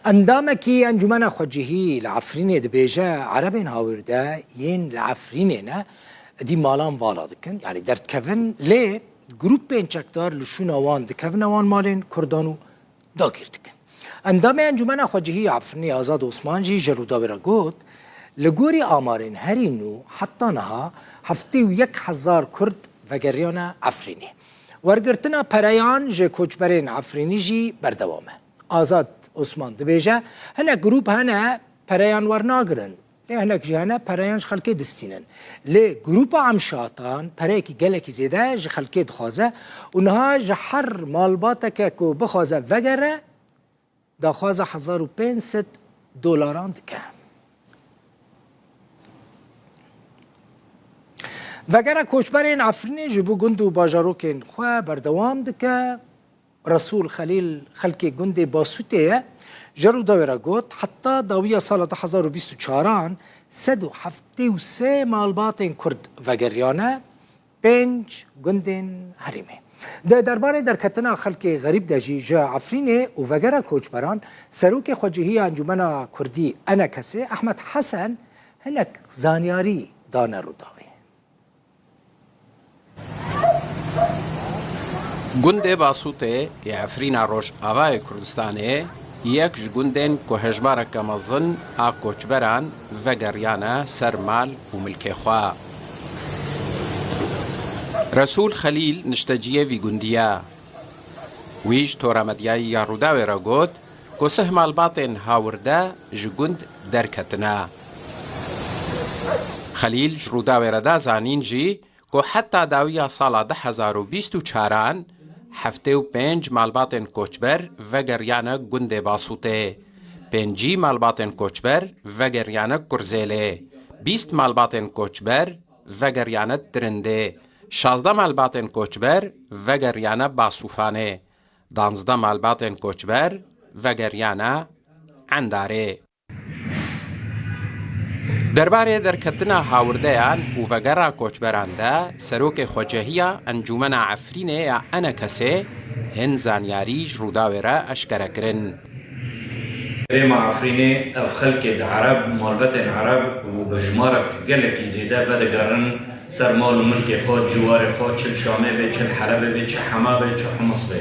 Endamekî Encûmena Xwecihî li Efrînê dibêje, Erebên hawirde yên li Efrînê ne dî malan vala dikin yanî derdikevin lê grûpên çekdar li şûna wan dikevine wan malên Kurdan û dagîr dikin. Endamê Encûmena Xwecihî ya Efrînê Azad Osman jî ji Rûdawê re got, Li gorî amarên herî nû heta niha heftê û yek hezar Kurd vegeriyane Efrînê. Wergirtina pereyan ji koçberên Efrînî jî berdewam e. Azad Osman dibêje, hinek grûp hene pereyan wernagirin, lê hinek jî hene pereyan ji xelkê distînin. Lê grûpa Amşatan pereyekî gelekî zêde ji xelkê dixwaze û niha ji her malbateke ku bixwaze vegere daxwaza hezar û pênc sed dolaran dike. Vegera koçberên Efrînê ji bo gund û bajarokên xwe berdewam dike. Resûl Xelîl xelkê gundê Basûtê ye. Ji Rûdawê re got, Heta dawiya sala du hezar û bîst û çar an sed û heftê û sê malbatên Kurd vegeriyane pênc gundên herêmê. Di derbarê derketina xelkê xerîb de jî ji Efrînê û vegera koçberan Serokê Xwecihîya Encûmena Kurdî, Enekesê, Ehmed Hesen hinek zanyarî dane Rûdawê. Gundê Basûtê yê Efrîna Rojavayê Kurdistanê yek ji gundên ku hejmareke mezin a koçberan vegeriyane ser mal û milkê xwe. Resûl Xelîl nişteciyê vî gundî ye. Wî ji tora medyayî ya Rûdawê re got, Ku sih malbatên hawirde ji gund derketine. Xelîl ji Rûdawê re da zanîn jî ku heta dawiya sala du hezar û bîst û çaran heftê û pênc malbatên koçber vegeriyane gundê Basûtê, pêncî malbatên koçber vegeriyane Kurzêlê, bîst malbatên koçber vegeriyane Tirindê, şazdeh malbatên koçber vegeriyane Basûfanê. Danzdeh malbatên koçber vegeriyane Endarê. Derbarê derketina hawirdeyan û vegera koçberan de serokê xwecehiya Encûmena Efrînê ya Enekesê hin zanyarî ji Rûdawê re eşkere kirin. Herêma Efrînê ev xelkê di ereb, malbetên ereb û bi jimarek gelekî zêde vedigerin ser mal û milkê xwe, ciwarê xwe, çil Şamê bê, çil Helebê bê, çi Hema bê, çi Hims bê.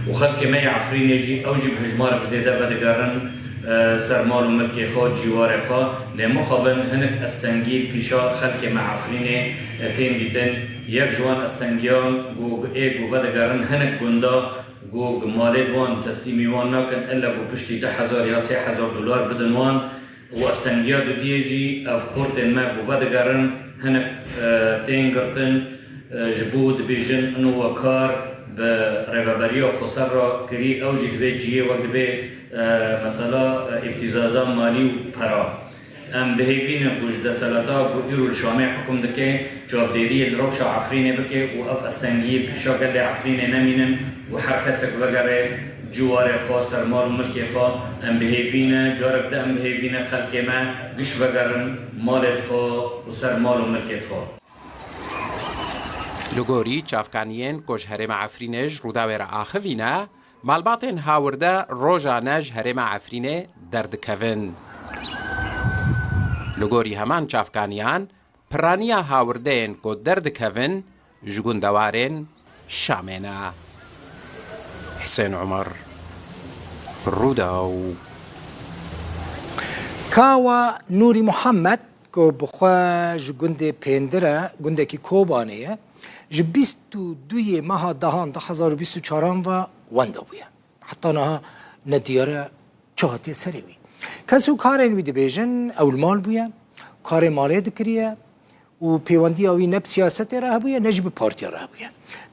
Û xelkê me yê Efrînê jî ew jî bi hijmarek zêde vedigerin ser mal û milkê xwe, ciwarê xwe. Lê mixabin hinik estengî pîşa xelkê me Efrînê tên dîtin. Yek ji wan estengiyan ku ê ku vedigerin hinik gunda, Ku ku malê wan teslîmî wan nakin illa ku piştî du hezar ya sê hezar dolar bidin wan û astengiya didiyê jî ev xortên me ku vedigerin hinek tên girtin ji bo dibêjin ino we kar bi rêveberiya Xweser re kirî ew jî divê ciyê wek dibê mesela îbtîzaza malî û para Em bihêvî ne ku ji deselata ku îro li Şamê hikum dike çavdêriyê li rewşa Efrînê bike û ev astengiyî bi hişa gelê Efrînê nemînin û her kesek vegere cî warê xwe ser mal û milkê xwe. Em bihêvî ne, carek di em bihêvî ne xelkê me giş vegerin malê dixwe û ser mal û milkê dixwe. Li gorî çavkaniyên ku ji herêma Efrînê ji Rûdawê re axivîne, Malbatên Hawirde rojane ji herêma Efrînê derdikevin. Li gorî heman çavkaniyan, piraniya hawirdeyên ku derdikevin ji gundewarên Şamê ne. Hisên Umar, Rûdaw. Kawa Nûrî Muhammed ku bi xwe ji gundê Pêndir e, gundekî Kobanê ye, Ji bîst û du yê meha dehan du hezar û bîst û çaran ve wenda bûye. Heta niha ne diyar e çi hatiye serê wî. Kes û karên wî dibêjin ewlmal bûye, karê malê dikiriye û pêwendiya wî ne bi siyasetê re hebûye ne jî bi partiya re hebûye.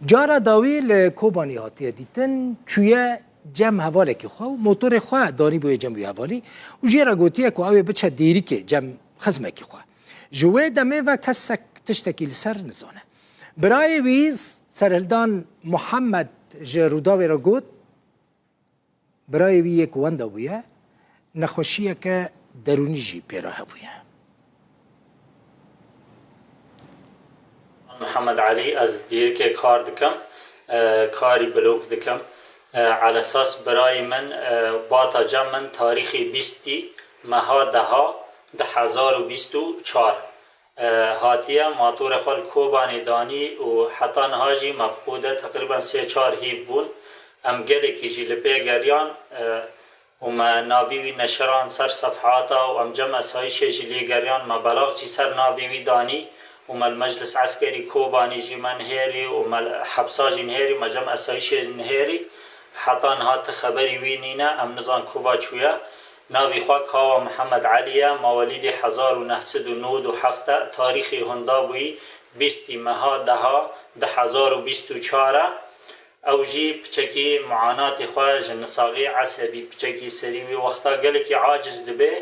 Cara dawî li Kobanî hatiye dîtin çûye cem hevalekî xwe û motorê xwe danîbûye cem wî hevalî û jê re gotiye ku ew ê biçe dêrîkê cem xizmekî xwe. Ji wê demê ve kesek tiştekî li ser nizane. Birayê wî Serhildan Muhammed ji Rûdawê re got, Birayê wî yê ku wenda bûye, nexweşiyeke derûnî jî pê re hebûye. Mihemed Elî, Ez li dîrkê kar dikim, karî blog dikim. Elesas birayê min Bata Cem min tarîxê bîstî meha deha di hezar û bîst û çar hatiye matorê xwe li Kobanê danî û heta niha jî mefqûd e. Teqrîben sê çar hîv bûn. Em gelekî jî li pê geriyan. û me navî wî neşirand ser sefhata û em cem esayîşê ji lê geriyan me belax jî ser navî wî danî û me li Meclis Eskerî Kobanî jî me nihêrî û me li hepsa jî nihêrî me cem esayîşê nihêrî heta niha ti xeberî wî nîne em nizan ku va çûye navî xwe Kawa Mihemed Elî ye mawelîdê hezar û neh sed û nod û heft e tarîxî hunda bûyî bîst î meha deha di hezar û bîst û çar e Ew jî piçekî muanatê xwe ji nisalî esebî piçekî serî wî wexta gelekî aciz dibe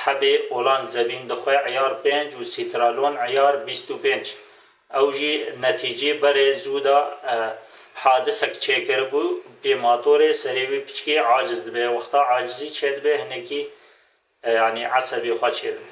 hebê olan zevîn dixwe îyar pênc û sîtralon îyar bîst û pênc ew jî netîcî berê zû da hadisek çêkiribû pê matorê serê wî piçkî aciz dibe wexta acizî çêdibe hinekî yanî esebê xwe çêdibe.